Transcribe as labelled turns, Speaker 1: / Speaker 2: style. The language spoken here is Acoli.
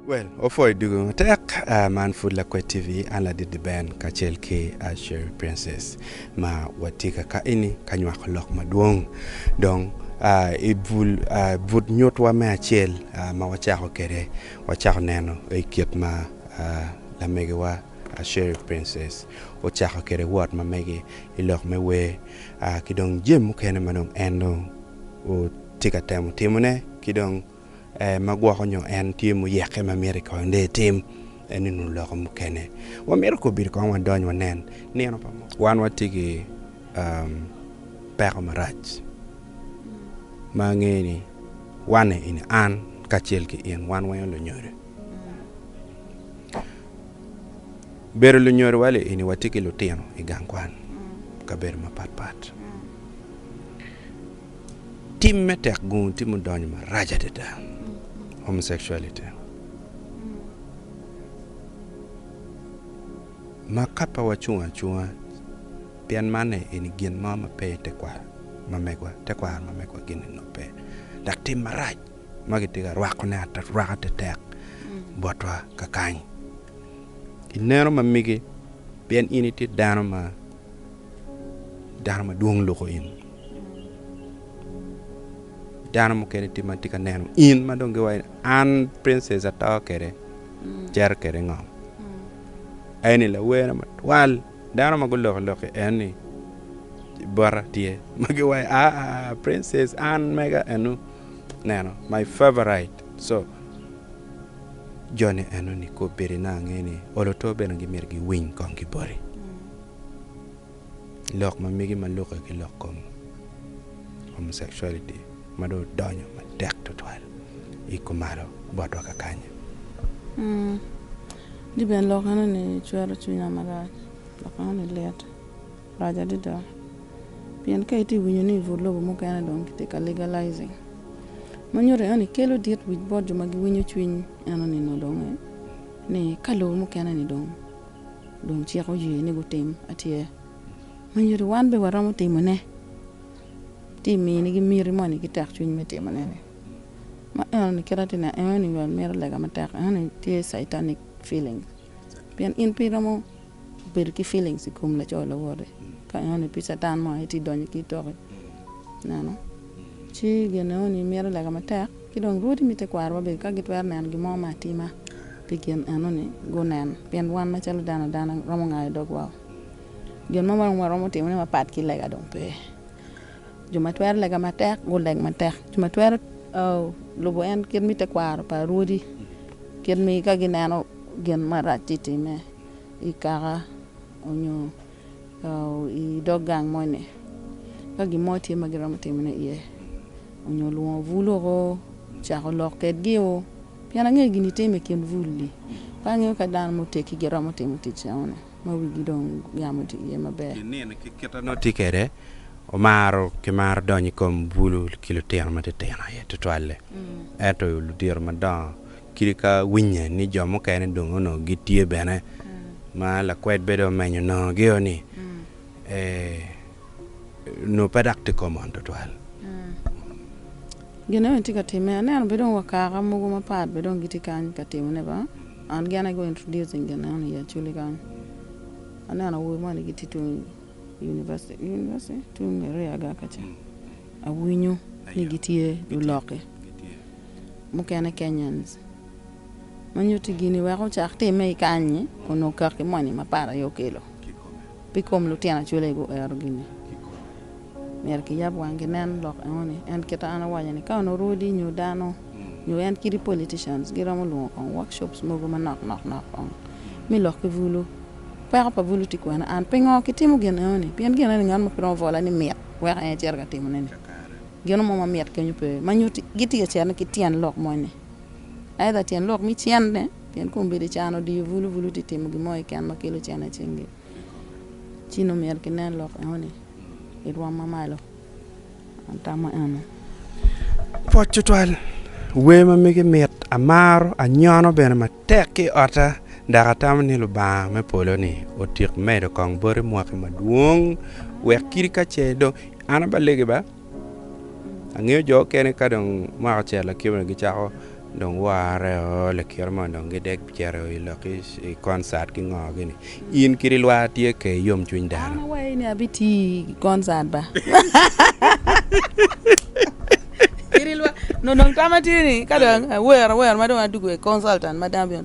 Speaker 1: Well, opwoyo dugu matek. Uh, man Food Lakwed TV, an Ladidi Ben kacel ki uh, Sherry Princess ma watye ka ka ini ka nywako lok madwong. Dong uh, i bul, uh, but nyutwa me acel uh, ma wacako kede Wacako neno kit ma lamegiwa Sherif Princess ocako kwede wot ma mege i lok me wer ki dong jami mukene ma dong en dong tye ka temo timone ki dong ma gwoko nyo en tye muyekke ma myero kong dong etim eni nunu loko mukene wamito kong bino kong wadony wanen nino pa munu. Wan watye ki peko marac ma angene ni. Wan, in, an, kacel ki in, wan weng lunyodo. Bedo lunyodo wale ini watye ki lutino i gang kwan i kabedo mapat pat. Tim me tek gungu tye mudonyo marac adada, homosexuality. Ma ka pe wacung acunga pien manne eni gin mo ma pe i tekwaro ma megwa, tekwaro ma megwa gin eni pe. Dok tim marac ma kitye ka rwakone arwaka tetek botwa kakany. Ineno ma mege pien in itye dano ma dano madwong luko in. Dano mukene tye ma tye ka neno in ma dong giwaci ni an Princess ato kwede, cito kwede i ngom. En ni lawerna matwal dano ma guloko lok ki en ni bota tye ma giwaco aa princess an mega enu neno my favorite so joni eno ni kobedi nongo ange ni olo to bene gimyero giwiny kong ki boti. lok ma mege ma lukke ki lok kom homosexuality ma dong odonyo matek twatwal i kumalo botwa kakanya.
Speaker 2: Di bene lok enoni cwero cwinya marac. Lok enoni lit, rac adada. Pien ka itye ka winyo ni i but lobo mukene dong kitye ka legalizing, ma nyuto ni enoni kelo dit wic bot jo ma giwinyo cwiny enoni dong ni ka lobo mukene-ni dong. dong cik oye ni gutim atye ma nyuto wan bene waromo timone. Tye ka minigi miti moni ki tekcwiny me timone-ni. Ma enoni kit ma atye ka neno enoni wel mito lega matek enoni tye caitanic feeling pien in pe iromo bedo ki feeling i kom laco lawote ka enoni pe catan mo aye tye ka donyo ki i toki ineno. Ci Gedeon-ni mito lega matek, ci dong rwodi me tekwarowa bene ka gitwero neno gin mo me atima pi gin eno-ni, gunen, pien wan macalo dano adana romo ngayo dogwa-o. Gin mo ma dong waromo timone mapat ki lega dong pe. Jo ma twero lega matek guleg matek, jo ma twero lubo en kit me tekwaro pa rwodi, kit ma ka gineno gin marac tye ka timme i kaka onyo. i dog gang moni ka gin mo tye ma giromo timone iye nyo lwongo bur loko cako lok kwedgi pien angeyo gin itimo i kin bur-ri ka angeyo ka dano muteggi giromo timo tic enoni ma wigi dong yam otye iye maber. Pi nino ki kite nongo
Speaker 1: tye kwede omaro kimaro donyo i kom bur ki lutino matitino aye tutwalle ento ludito madongo Kadi ka winye ni jo mukene dong onongo gitye bene, ma lakwed bedo omenyo nongogio ni, Ee, nongo pe dok tye komon twatwal.
Speaker 2: Gin meno bene tye ka timme. Aneno bene dong wa kaka mogo mapat bene dong gitye kany ka timone ba, and gin aye go introducing gin meno ni i Acholi kany. Aneno awobe moni gitye tung University, University? Tung area ga kaca. Awinyo ni gitye lulokke mukene, Kenyans, ma nyutti gini wek ocak timme i kany-nyi onongo kak ki moni ma para aye okelo. Pi kom lutino acwele guero gini, myero kiyab wang ginen lok enoni. En kit an awaco ni ka onongo rwodi nyo dano nyo en kidi politicians giromo lwongo kong workshops mogo manok nok nok kong me lok ki bulu. Peko pa bulu tye kwene? An pingo kitimo gin enoni? Pien gin enoni ngat mo pe romo vola ni mit. wek en ecit ka timone-ni. Gino mo ma mit kenyo pe ma nyutti gitye ka cerne ki tyen lok moni. Aidha tyen lok me cente, pien kombeddi can odiyo bulu bulu tye ka timo gin mo keken ma kelo cente i cingi. Ci nongo myero kinen lok enoni i rwom mamalo. An atamo eno. Pwod
Speaker 1: tutwal, wer ma mege mit, amaro, anyono bene matek ki i otta dok atamo ni Lubanga me polo ni otik medo kong boti mwaki madwong wek kiti ka ce dong an abalegi ba angeyo jo okene ka dong mwaka ocito lakibani gicako Dong worre o, likiro mono dong gidek bicito i lok i concert ki ngo gi ni. In kit i lwar tye ke i yom cwiny dano. An awayi ni abi ti
Speaker 2: i concert ba. Kit i lwar, nonong tama tye ni ka dong awero awer ma dong adugo i consultant ma dano bino